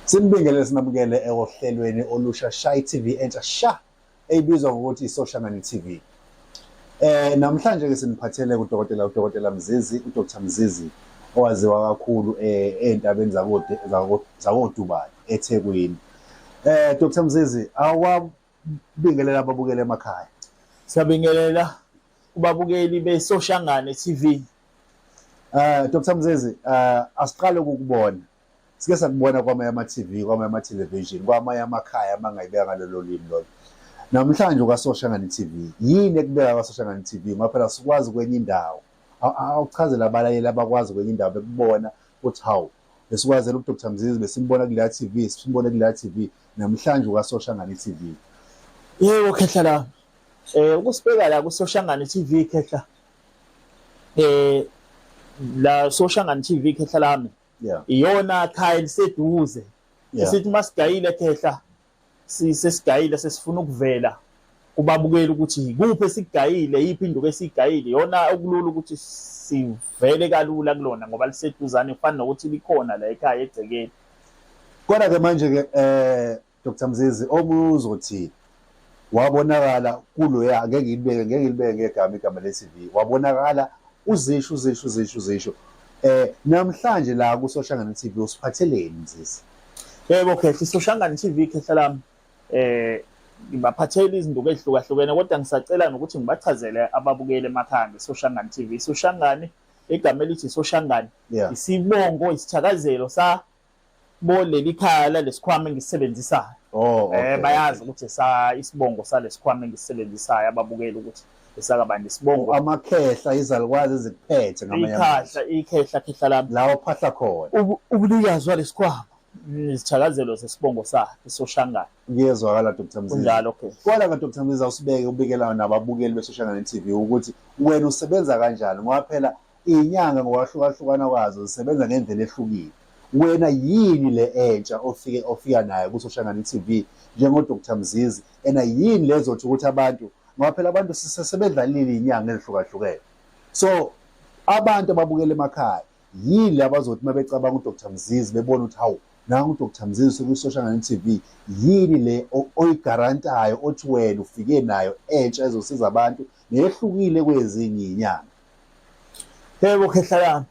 Simbingelele sinabukele ohlelweni olusha Shy TV entsha sha ebizwa ngokuthi iSoshangani TV. Eh namhlanje ke siniphathele kudokotela uDokotela Mzizi, uDr Mzizi owaziwa kakhulu eh ezintabeni zakoDe zakoDubai eThekwini. Eh Dr Mzizi awa Bingelela ababukeli emakhaya. Siyabingelela kubabukeli beSoshangane TV. Eh Dr Mzezi, eh asiqale ukukubona. Sike sakubona kwamanye ama-TV, kwamanye ama-television, kwamanye amakhaya amangayibeka ngalolo limi lolo. Namhlanje ukaSoshangane TV. Yini ekubeka kwaSoshangane TV? Ngoba phela sikwazi kwenye indawo. Awuchazela abalaleli abakwazi kwenye indawo bekubona uthi hawu Besikwazela uDr Mzizi besimbona kuleya TV, simbone kuleya TV namhlanje ukaSoshangane TV. Yebo khehla la. Eh ukusibeka la kuSoshangane TV khehla. Eh la Soshangane TV khehla lami. Yeah. Iyona khaya liseduze. Yeah. Sithi masigayile khehla sesigayile sesifuna ukuvela kubabukeli ukuthi yikuphi esigayile yiphi induku esigayile yona okulula ukuthi sivele kalula kulona ngoba liseduzane kufana nokuthi likhona la ekhaya egcekeni kodwa ke manje ke eh Dr Mzizi omuzothi wabonakala kuloya ngeke ngilibeke ngeke ngilibeke ngegama igama le-TV wabonakala uzisho uzisho uzisho uzisho eh namhlanje la kusoshangana TV usiphatheleni Mzizi Yebo Khehla isoshangane TV Khehla lami eh ngibaphathela izinduku ezihlukahlukene kodwa ngisacela nokuthi ngibachazele ababukeli emakhanda isoshangane TV isoshangane igama elithi isoshangane isibongo isithakazelo sa boleli khala lesikhwama engisisebenzisayo oh eh bayazi ukuthi sa isibongo salesikhwama engisisebenzisayo ababukeli ukuthi esakabani isibongo amakhehla izalukwazi ezikuphethe ngamanye ikhahla ikhehla khehla lami la ophahla khona ubunikazi walesikhwama izithakazelo zesibongo sakhe soshangana kuyezwakala Dr Mziza kunjalo okay kwala ka Dr Mziza usibeke ubikelayo nababukeli besoshangana TV ukuthi wena usebenza kanjani ngoba phela Inyanga ngokwahlukahlukana kwazo zisebenza ngendlela ehlukile. Wena yini le entsha ofike ofika nayo kuSoshangane TV njengo Dr Mzizi ena yini lezothi ukuthi abantu ngoba phela abantu sisebedlalile inyanga ezihlukahlukene. So abantu ababukela emakhaya yini abazothi uma becabanga uDr Mzizi bebona ukuthi hawu nangu uDr Mzizi sekuyiSoshangane TV yini le oyigarantayo othi wena ufike nayo entsha ezosiza abantu nehlukile kwezinye inyanga. Yebo khehla lami.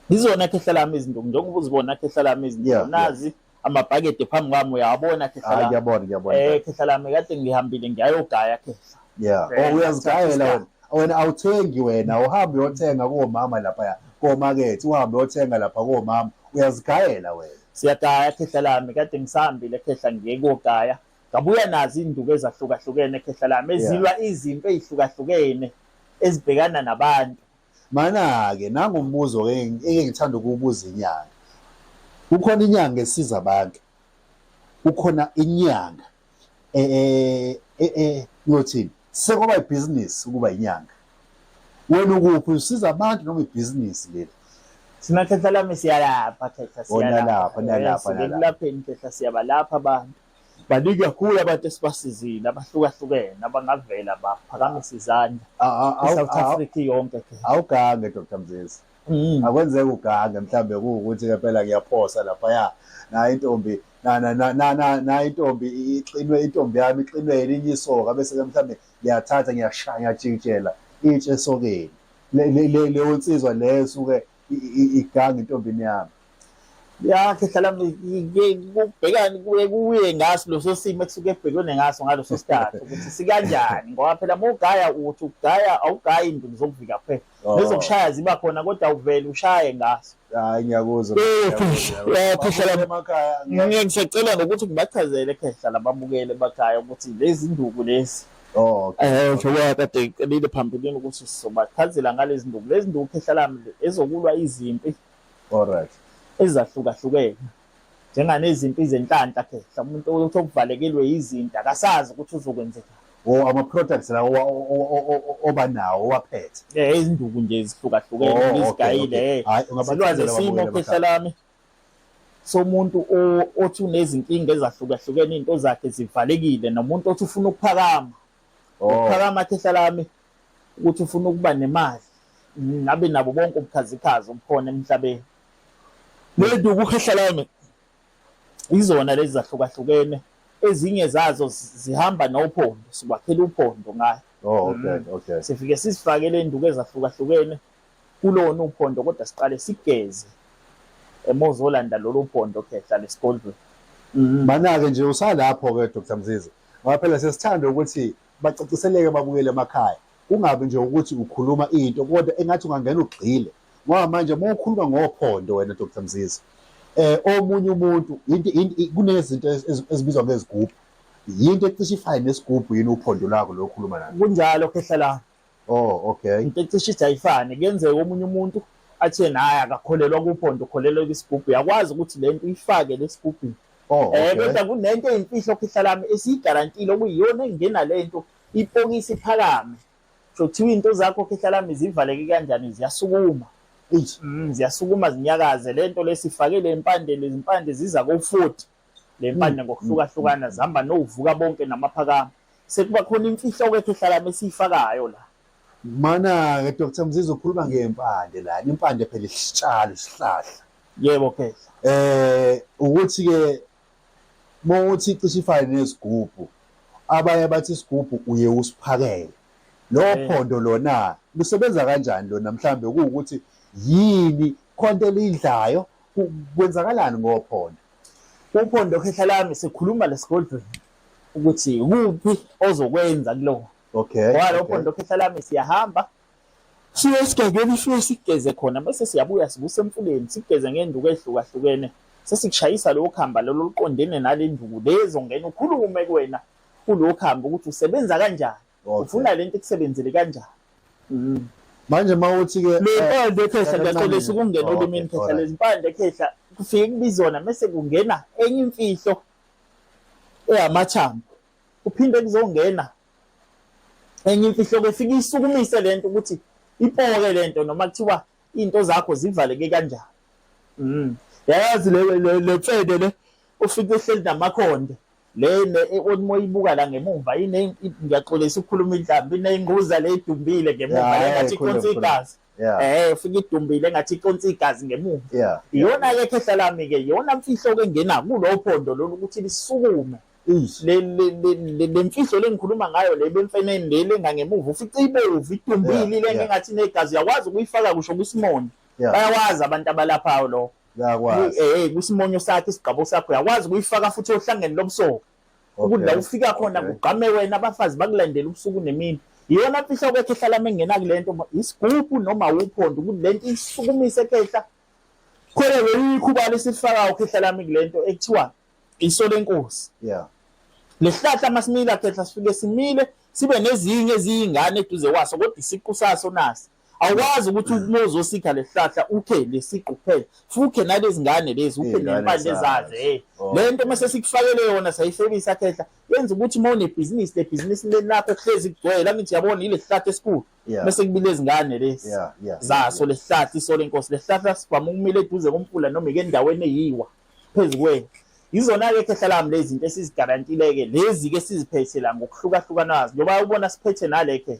Ngizona khehla lami izinto njengoba uzibona khehla lami izinto nazi amabhakede phambi kwami uyabona khehla lami. Ngiyabona ngiyabona. Eh khehla lami kade ngihambile ngiyayogaya khehla. Yeah. Eh, oh uyazigayela wena. Wena awuthengi wena uhambe uyothenga komama lapha ya. Komakethe uhambe uyothenga lapha komama uyazigayela wena. Siyagaya khehla lami kade ngisahambile khehla ngiye kogaya. Ngabuya nazo izinduku ezahlukahlukene khehla lami ezilwa izinto ezihlukahlukene ezibhekana nabantu. Mana-ke nangu umbuzo engike ngithanda ukuwubuza inyanga. Kukhona inyanga esiza abantu. Kukhona inyanga eh eh, eh, eh ngiyothini? Sekwaba ibhizinisi ukuba inyanga. wena ukuphi usiza abantu noma ibhizinisi leli thina khehla lami siyalapha khehla siyalapha nalapha nalapheni khehla siyabalapha abantu baningi kakhulu abantu esibasizile abahlukahlukene abangavela baphakamise izandla i-south africa yonke awugange dr mzizi mm. akwenzeka ugange mhlawumbe kuwukuthi kempela ngiyaphosa laphaya nayo intombi nayo intombi ixinwe intombi yami ixinwe elinye isoka bese-ke mhlawumbe ngiyathatha ngiyashaya ngiyajikijela itshe esokeni leyo nsizwa leyo suke iganga intombini yami yakhe hlala kubhekani kuye kuye ngaso leso simo ekusuke ebhekene ngaso ngaleso sikhathi ukuthi sikanjani ngoba phela mugaya uthi ugaya awugayi into zokuvika kuphela Oh. Nezokushaya ziba khona kodwa uvele ushaye ngaso. Hayi ngiyakuzwa. Khehla emakhaya. Ngisacela ngokuthi ngibachazele khehla lababukele emakhaya ukuthi lezi nduku lezi. Oh, okay. Eh, njengoba kade ngicelile phambilini ukuthi sizobachazela ngalezi nduku. Lezi nduku khehla lami ezokulwa izimpi. Alright. Ezahlukahlukene. njenganezimpi zenhlanhla ke mhlawumbe umuntu ukuthi okuvalekilwe yizinto akasazi ukuthi uzokwenzeka or ama products la oba nawo owaphethe eh izinduku nje zihlukahlukene oh, izigayile eh silwazi simo phehla lami somuntu othi unezinkinga ezahlukahlukene into zakhe zivalekile nomuntu othi ufuna ukuphakama oh. ukuphakama phehla lami ukuthi ufuna ukuba nemali ngabe nabo bonke ubukhazikhazi obukhona emhlabeni Lento ukukhehla lami izona lezi zahlukahlukene ezinye zazo zihamba nophondo siwakhela uphondo ngayo oh okay mm. okay sifike sisifakele induku ezahlukahlukene kulona uphondo kodwa siqale sigeze emozolanda lolu phondo khehla lesigodlweni mm. banake nje usalapho ke Dr Mzizi ngoba phela sesithanda ukuthi bacaciseleke babuyele emakhaya kungabi nje ukuthi ukhuluma into kodwa engathi ungangena ugxile ngoba manje uma ukhuluma ngophondo wena Dr Mzizi eh omunye umuntu kunezinto ezibizwa ngezigubhu yinto ecishe ifane nesigubhu yini uphondo lakho lokhuluma nayo kunjalo khehla la Oh okay. Into ecishe ithi ayifane kuyenzeka omunye umuntu athe naye akakholelwa kuphonto ukholelwa kwisigubhu yakwazi ukuthi le nto uyifake lesigubhini. Oh okay. Eh kodwa kunento eyimfihlo khihla lami esiyigarantile okuyiyona engena le nto ipokisi phakame. So kuthiwa into zakho khihla lami zivaleke kanjani ziyasukuma. Mm, ziyasukuma zinyakaze lento lesifakele impande lezimpande ziza ko 40 le mpande ngokuhlukahlukana zihamba novuka bonke namaphakama sekuba khona imfihlo-ke ehlalami esiyifakayo la mana-ke dr mzizi ukhuluma ngempande la impande phela isitshalo isihlahla yebo ke eh ukuthi-ke mawuthi icishe ifane nezigubhu abanye bathi isigubhu uye usiphakele lowo eh. phondo lona lusebenza kanjani lona mhlawumbe kuwukuthi yini khonto elidlayo kwenzakalani ngophondo uphondo khehla lami sikhuluma lesigodlweni ukuthi kuphi ozokwenza kuloko okay walo uphondo khehla lami siyahamba siye esigangeni siye sigeze khona bese siyabuya sibuse emfuleni sigeze ngenduku ehlukahlukene sesikushayisa lowo khamba lolo luqondene nale nduku lezo ngena ukhulume kuwena kulowo khamba ukuthi usebenza kanjani Okay. ufuna lento ikusebenzele kanjani Mm. manje uma uthi ke le mpande ekhehla Sakancane. ngiyaxolisa ukungena Oh, olimini okay, khehla alright. lezimpande ekhehla kufike kubizona mese kungena enye imfihlo eyamathambo kuphinde kuzongena enye imfihlo ke fike isukumise lento ukuthi ipoke lento noma kuthiwa into zakho zivaleke kanjani mm yayazi le le- le mfede le ufike uhleli namakhonde le le othi moyibuka la ngemumva ine ngiyaxolisa ukukhuluma inhlamba ineyinquza le idumbile ngemumva Yeah, engathi ikhona, iconsa ikhona. igazi Yeah. eh ufika idumbile engathi iconsa igazi ngemumva Yeah. iyona ke khehla lami ke iyona mfihlo ke ngena kulowo phondo lolu ukuthi lisukume Eish. le le- le- le- le mfihlo lengikhuluma ngayo le bemfeneni le lengangemuva ufica ibovu idumbile Yeah, ile yeah. engathi negazi uyakwazi ukuyifaka kusho kwisimoni Yeah. bayawazi abantu abalaphayo lokho Yakwazi. Eh kusimonyo sakhe isigqabo sakho yakwazi kuyifaka futhi ohlangene lobusoka. Ukuthi la ufika khona kugqame wena abafazi bakulandela ubusuku nemini. Iyona mfihlo kwethu ehlala mengena kulento isigubhu noma uphondo ukuthi lento isukumise ekhehla. Khona loyikhubani sifaka ukhehla lami kulento ekuthiwa iso lenkosi. Yeah. Lesihlahla masimila khehla sifike simile sibe nezinye eziyingane eduze kwaso kodwa isiqu saso nasi. awazi ukuthi mm. uma uzosikha lesihlahla ukhe lesiqu kuphela fukhe nalezi ngane lezi ukhe nempande zazo hey oh. le nto mase sikufakele yona sayifebisa khehla yenza ukuthi uma unebhizinisi le bhizinisi leli lakho kuhlezi kugcwele angithi yabona ile sihlahla esikhulu bese kubile izingane lezi zaso le sihlahla isole inkosi le sihlahla sivama ukumile eduze komfula noma ike endaweni eyiwa phezu kwenu yizona-ke khehla lami lezi zinto esizigarantile-ke lezi-ke siziphethe la ngokuhlukahlukanazo njengoba ubona siphethe nale khehla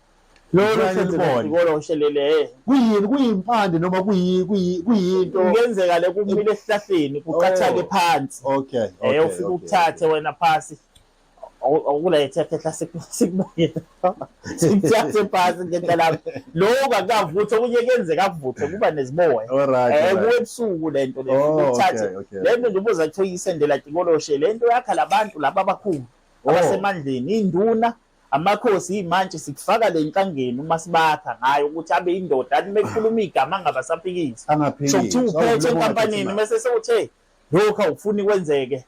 lolo selibona ushelele eh. kuyini kuyimpande noma kuyinto kungenzeka le kumile esihlahleni kuqathake oh. phansi okay eh ufike ukuthathe wena phasi awukulethe phela sikubuyile sikuthathe phansi ngento lapho lokho akukavuthi okunye kuyenzeka kuvuthwe kuba neziboya eh kuwe ebusuku le nto le oh, ukuthathe le nto nje ubuza kuthiwa iyisendela tikoloshe le nto yakha labantu laba abakhulu oh. abasemandleni induna Amakhosi imantshi sikufaka le nkangeni uma sibakha ngayo ukuthi abe indoda athi mekhuluma igama angabasaphikisi. Angaphikisi. So kuthi uphethe enkampanini mese sewuthe lokhu awufuni kwenzeke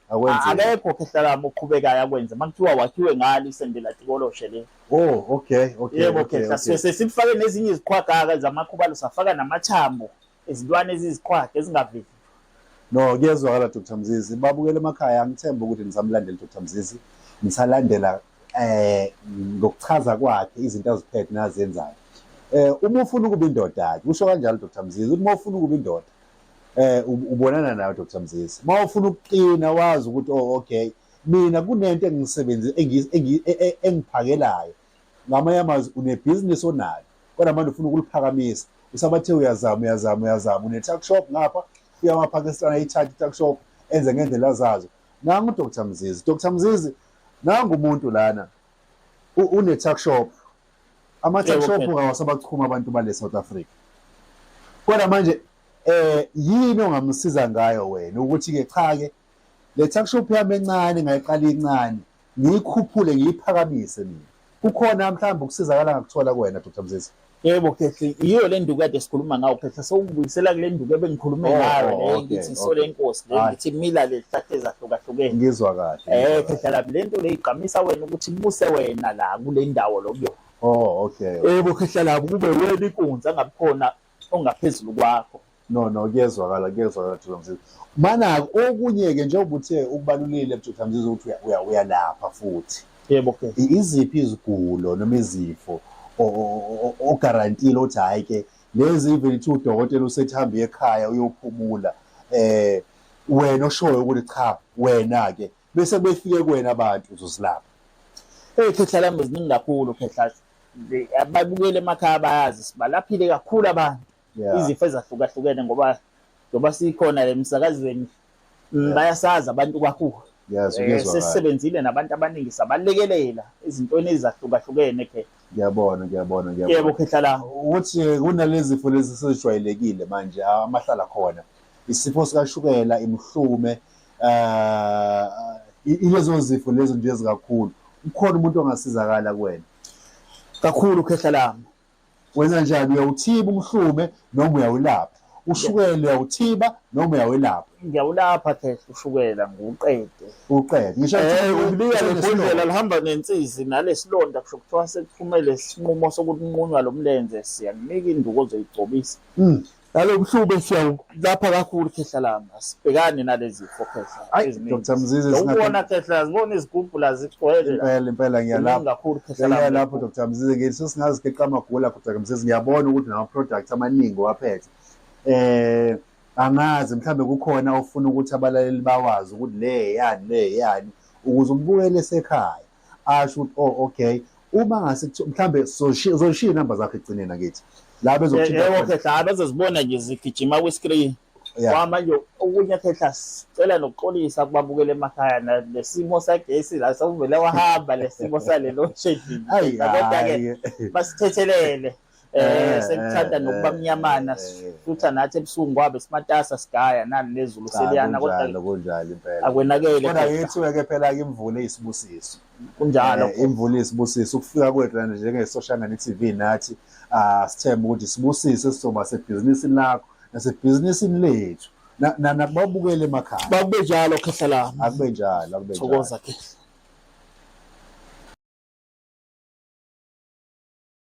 akekho khehlakama oqhubekayo akwenze makuthiwa wakhiwe ngalo isendela tikoloshe le oh okay okay yebo khehla sifake nezinye iziqhwagaka zamakhubalo safaka namathambo izilwane eziziqhwaga ezingavivi no kuyezwakala Dr Mzizi babukele emakhaya ngithemba ukuthi nisamlandela Dr Mzizi nisalandela eh ngokuchaza kwakhe izinto aziphethe nazenzayo eh uma ufuna ukuba indoda ke usho kanjalo Dr Mzizi uma ufuna ukuba indoda eh ubonana nayo Dr Mzizi uma ufuna ukuqina wazi ukuthi oh okay mina kunento engisebenzi e, e, engiphakelayo ngamanye amazwi unebhizinisi onalo kodwa manje ufuna ukuliphakamisa usabathe uyazama uyazama uyazama une-tuck shop ngapha uya kwapakistan ayithathe i-tuck shop enze ngendlela zazo nangu udr mzizi dr mzizi nangu umuntu lana une-tuck shop ama-tuck shop ngawasabachuma abantu bale south africa kodwa manje eh yini ongamsiza ngayo wena ukuthi-ke cha-ke le tuckshop yami encane ngayiqala incane ngiyikhuphule ngiyiphakamise mina kukhona mhlawumbe ukusizakala ngakuthola kuwena dr mzizi yebo khehle yiyo le nduku kade sikhuluma ngawo khehle sewungibuyisela kule nduku ebengikhulume oh, ngayo le oh, ngithi isole inkosi le ngithi mila le zihlahla ezahlukahlukene ngizwa kahle eh khehle lapho le nto le igqamisa wena ukuthi ibuse wena la kule ndawo lokuyona oh okay yebo khehle lapho kube wena inkunzi angabikhona ongaphezulu kwakho no no kuyezwakala kuyezwakala Mtholamzizi manako okunye-ke njengoba uthe ukubalulile Mtholamzizi ukuthi uyalapha futhi yebo ke iziphi izigulo noma izifo ogarantile othi hhayi ke lezi even ithi udokotela usethi hambe ekhaya uyophumula eh wena oshoyo ukuthi cha wena-ke bese befike kuwena abantu uzosilapha hey khehla lami ziningi kakhulu khehla ababukeli emakhaya bayazi sibalaphile kakhulu abantu izifo ezahlukahlukene ngoba ngoba sikhona le msakazweni mm, bayasazi abantu kakhulu eh, sesisebenzile nabantu abaningi sabalekelela izintweni ezahlukahlukene ke ngiyabona ngiyabona ngiyabona yebo khehla la ukuthi kunalezi zifo lezi sezijwayelekile manje amahlala khona isifo sikashukela imhlume eh ilezo zifo lezo nje ezikakhulu ukhona umuntu ongasizakala kuwena kakhulu khehla lami wenza njani uyawuthiba umhlume noma uyawulapha ushukela uyawuthiba noma uyawelapha ngiyawulapha khehla ushukela ngiwuqede uqede ngisho Eh, ukubika lebhodlela lihamba nensizi nalesilonda kusho kuthiwa sekuphumele isinqumo sokuthi unqunywa lo mlenze siyakunika induku ozoyigcobisa Mm. Nalobuhlube siyawulapha kakhulu khehla lami. Asibhekani nalezifo khehla. Ayi Dr. Mzizi singabona khehla ngibona izigubhu la zigcwele. Impela impela ngiyalapha kakhulu khehla lami. Ngiyalapha Dr. Mzizi ngithi singazi keqa amagula Dr. Mzizi ngiyabona ukuthi nama products amaningi waphethe. Eh angazi mhlambe kukhona ofuna ukuthi abalaleli bawazi ukuthi le yani le yani ukuze umbukele esekhaya. asho ukuthi oh okay uma ngase mhlambe zoshiya inamba zakhe ekugcineni akithi la bezokuthinta yebo khehla hayi bezozibona nje zigijima kwi-screen kwamanje okunye khehla sicela nokuxolisa kubabukela emakhaya nesimo sagesi la sokuvele wahamba lesimo sale load shedding kodwa-ke basithethelele Eh, eh sekuthanda eh, nokuba mnyamana eh, sifutha nathi ebusuku ngwabe simatasa sigaya nani nezulu ah, seliyana kodwa kunjalo impela akwenakele kodwa yithi ke phela ke imvula isibusiso kunjalo imvula isibusiso ukufika kwethu lana njenge social media TV nathi asithemba ah, ukuthi sibusise sizoba sebhizinisini lakho nasebhizinisini lethu nakubabukele emakhaya bakube njalo khehla lami akube njalo akube njalo thokoza khehla